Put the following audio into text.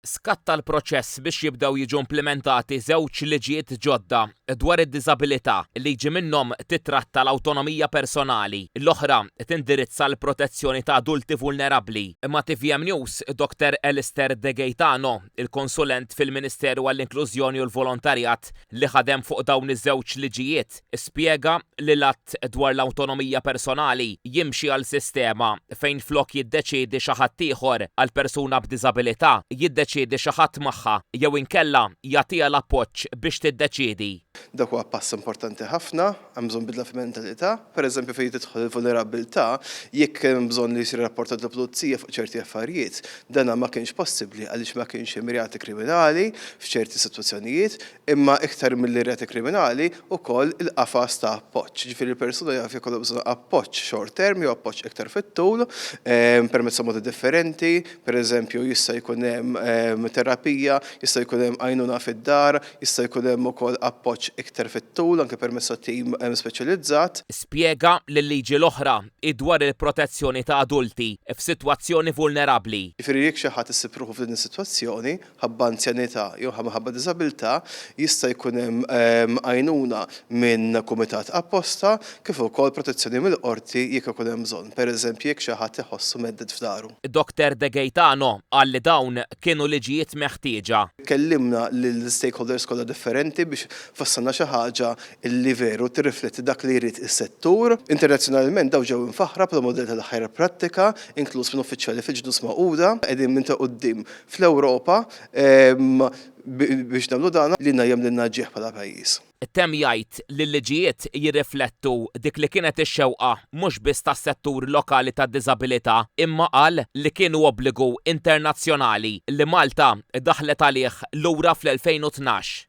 skatta l-proċess biex jibdew jiġu implimentati żewġ liġijiet ġodda dwar id-diżabilità, liġi minnhom tittratta l-awtonomija personali, l-oħra tindirizza l-protezzjoni ta' adulti vulnerabbli, imma tvm News, Dr Alistair De Gaetano, il-konsulent fil-Ministeru għall-Inklużjoni u l-Volontarjat li ħadem fuq dawn iż-żewġ liġijiet, Spjega li l-Att dwar l-Awtonomija Personali jimxi għal sistema fejn flok jiddeċiedi xi ħadd ieħor għal persuna b'diżabilità, jiddeċiedi xi ħadd magħha jew inkella jagħtiha l-appoġġ biex tiddeċiedi. Dak huwa pass importanti ħafna, hemm bżonn bidla fil-mentalità. Per eżempju fejn tidħol il-vulnerabbiltà, jekk kien hemm bżonn li jsir irrapportat lill-pulizija fuq ċerti affarijiet, dan ma kienx possibbli għaliex ma kienx hemm reati kriminali f'ċerti sitwazzjonijiet, imma iktar milli r-reati kriminali, ukoll il-qafas ta' appoġġ. Jiġifieri l-persuna jaf jekk għandha bżonn appoġġ short term jew appoġġ iktar fit-tul permezz ta' modi differenti, pereżempju jista' jkun hemm terapija, jista' jkun hemm għajnuna fid-dar, jista' jkun hemm ukoll appoġġ iktar fit-tul anke permezz ta' tim speċjalizzat. Spjega li l-liġi l-oħra hi dwar il-protezzjoni ta' adulti f'sitwazzjoni vulnerabbli. Jiġifieri jekk xi ħadd isib ruħu f'din is-sitwazzjoni, ħabba anzjanità jew minħabba diżabilità, jista' jkun hemm għajnuna minn kumitat apposta kif ukoll protezzjoni mill-qorti jekk ikun hemm bżonn, pereżempju jekk xi ħadd iħossu mhedded f'daru. Dr De Gaetano qal li dawn kienu liġijiet meħtieġa. Kellimna lill-stakeholders kollha differenti biex fassalna xi ħaġa li veru tirrifletti dak li jrid is-settur. Internazzjonalment dawn ġew imfaħħra bħala mudell tal-aħjar prattika, inkluż minn uffiċjali fil-Ġnus Magħquda. Qegħdin minn ta' quddiem fl-Ewropa biex nagħmlu dan li ngħajjem lil Naġieħ bħala pajjiż. Temm jgħid li l-liġijiet jirriflettu dik li kienet ix-xewqa mhux biss tas-settur lokali tad-diżabilità imma qal li kienu obbligu internazzjonali li Malta daħlet għalih lura fl-2012.